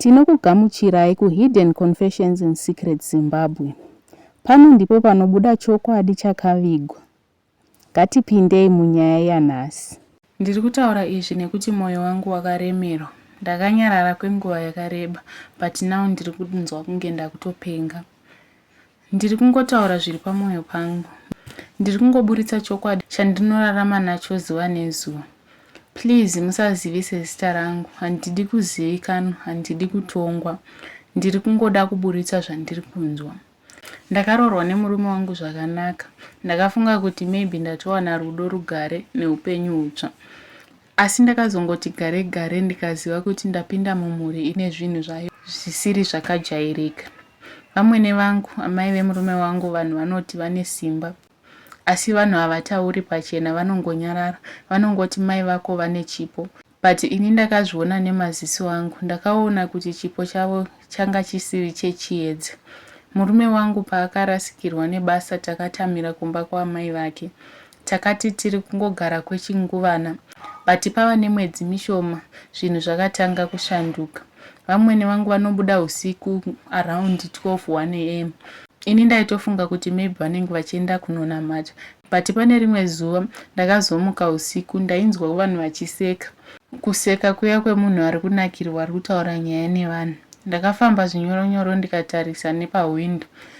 Tinokugamuchirai ku Hidden Confessions in Secret Zimbabwe. Pano ndipo panobuda chokwadi chakavigwa. Ngatipindei munyaya yanhasi. Ndiri kutaura izvi nekuti moyo wangu wakaremerwa. Ndakanyarara kwenguva yakareba but now ndiri kunzwa kunge ndakutopenga. Ndiri kungotaura zviri pamwoyo pangu. Ndiri kungoburitsa chokwadi chandinorarama nacho zuva nezuva. Please musazivise zita rangu, handidi kuzivikanwa, handidi kutongwa. Ndiri kungoda kuburitsa zvandiri kunzwa. Ndakaroorwa nemurume wangu zvakanaka. Ndakafunga kuti maybe ndatowana rudo, rugare neupenyu hutsva. Asi ndakazongoti gare gare ndikaziva kuti ndapinda mumhuri ine zvinhu zvayo zvisiri zvakajairika. Vamwene vangu, amai vemurume wangu vanhu vanoti vane simba. Asi vanhu havatauri pachena vanongonyarara, vanongoti mai vako vane chipo. But ini ndakazviona nemaziso angu, ndakaona kuti chipo chavo changa chisiri chechiedza. Murume wangu paakarasikirwa nebasa takatamira kumba kwaamai vake. Takati tiri kungogara kwechinguvana but pava nemwedzi mishoma zvinhu zvakatanga kushanduka. Vamwene vangu vanobuda husiku around 12, 1am ini ndaitofunga kuti maybe vanenge vachienda kunonamata but pane rimwe zuva ndakazomuka husiku ndainzwa vanhu vachiseka. Kuseka kuya kwemunhu ari kunakirwa ari kutaura nyaya nevanhu. Ndakafamba zvinyoro nyoro ndikatarisa nepahwindo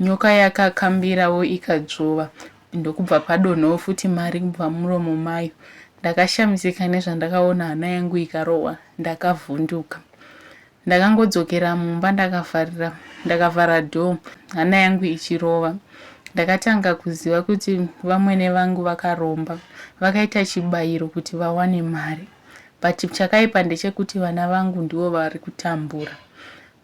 Nyoka yakakambirawo ikadzvova ndokubva padonhawo futi mari kubva mumuromo mayo. Ndakashamisika nezvandakaona hana yangu ikarohwa ndakavhunduka. Ndakangodzokera mumba ndakavharira ndakavhara door hana yangu ichirova. Ndakatanga kuziva kuti vamwene vangu vakaromba vakaita chibayiro kuti vawane mari but chakaipa ndechekuti vana vangu ndivo vari kutambura.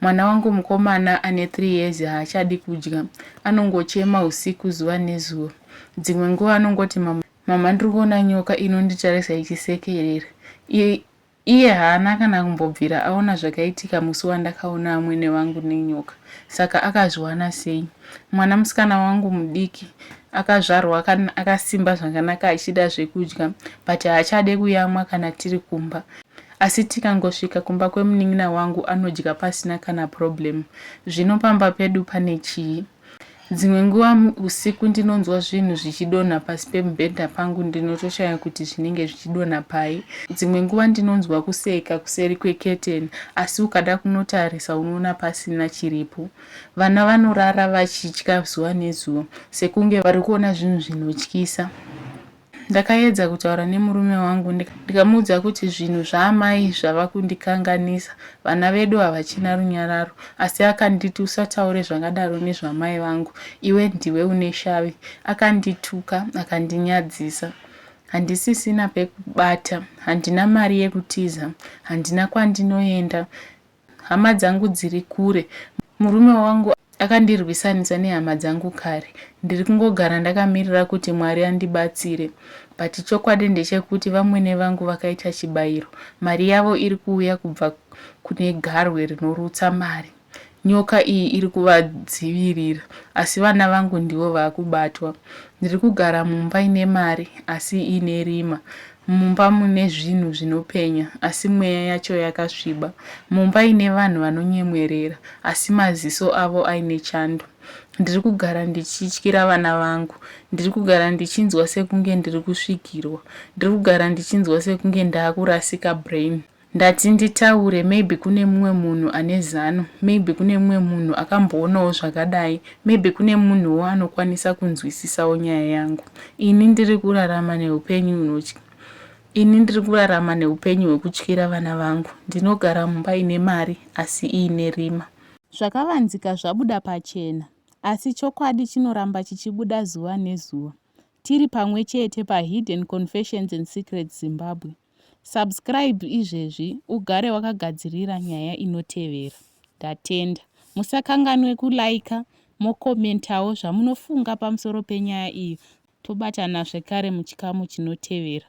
Mwana wangu mukomana ane 3 years haachadi kudya. Anongochema husiku zuva nezuva. Dzimwe nguva anongoti mama, mama ndiri kuona nyoka inonditarisa ichisekerera. I, iye haana kana kumbobvira aona zvakaitika musi wandakaona amwene vangu nenyoka. Saka akazviwana sei? Mwana musikana wangu mudiki akazvarwa akasimba zvakanaka achida zvekudya but haachade kuyamwa kana tiri kumba. Asi tikangosvika kumba kwemunin'ina wangu anodya pasina kana problem. Zvino pamba pedu pane chii? Dzimwe nguva usiku ndinonzwa zvinhu zvichidonha pasi pemubhedha pangu ndinotoshaya kuti zvinenge zvichidonha pai. Dzimwe nguva ndinonzwa kuseka kuseri kweketeni asi ukada kunotarisa unoona pasina chiripo. Vana vanorara vachitya zuva nezuva sekunge vari kuona zvinhu zvinotyisa. Ndakaedza kutaura nemurume wangu ndikamuudza kuti zvinhu zvaamai zvava kundikanganisa, vana vedu havachina runyararo asi akanditi usataure zvakadaro nezvamai vangu iwe ndiwe une shavi. Akandituka akandinyadzisa. Handisisina pekubata, handina mari yekutiza, handina kwandinoenda. Hama dzangu dziri kure. Murume wangu akandirwisanisa nehama dzangu kare. Ndiri kungogara ndakamirira kuti Mwari andibatsire. But chokwadi ndechekuti vamwene vangu vakaita chibairo. Mari yavo iri kuuya kubva kune garwe rinorutsa mari. Nyoka iyi iri kuvadzivirira asi vana vangu ndivo vakubatwa. Ndiri kugara mumba ine mari asi ine rima. Mumba mune zvinhu zvinopenya, asi mweya yacho yakasviba. Mumba ine vanhu vanonyemwerera, asi maziso avo aine chando. Ndiri kugara ndichityira vana vangu. Ndiri kugara ndichinzwa sekunge ndiri kusvikirwa. Ndiri kugara ndichinzwa sekunge ndaakurasika brain. Ndati nditaure maybe kune mumwe munhu ane zano, maybe kune mumwe munhu akamboonawo zvakadai, maybe kune munhuwo anokwanisa kunzwisisawo nyaya yangu. Ini ndiri kurarama neupenyu hunotya. Ini ndiri kurarama neupenyu hwekutyira vana vangu. Ndinogara mumba ine mari asi iine rima. Zvakavanzika zvabuda pachena. Asi chokwadi chinoramba chichibuda zuva nezuva. Tiri pamwe chete paHidden Confessions and Secrets Zimbabwe. Subscribe izvezvi ugare wakagadzirira nyaya inotevera. Ndatenda. Musakanganwe kuliker mocommentawo zvamunofunga pamusoro penyaya iyi tobatana zvekare muchikamu chinotevera.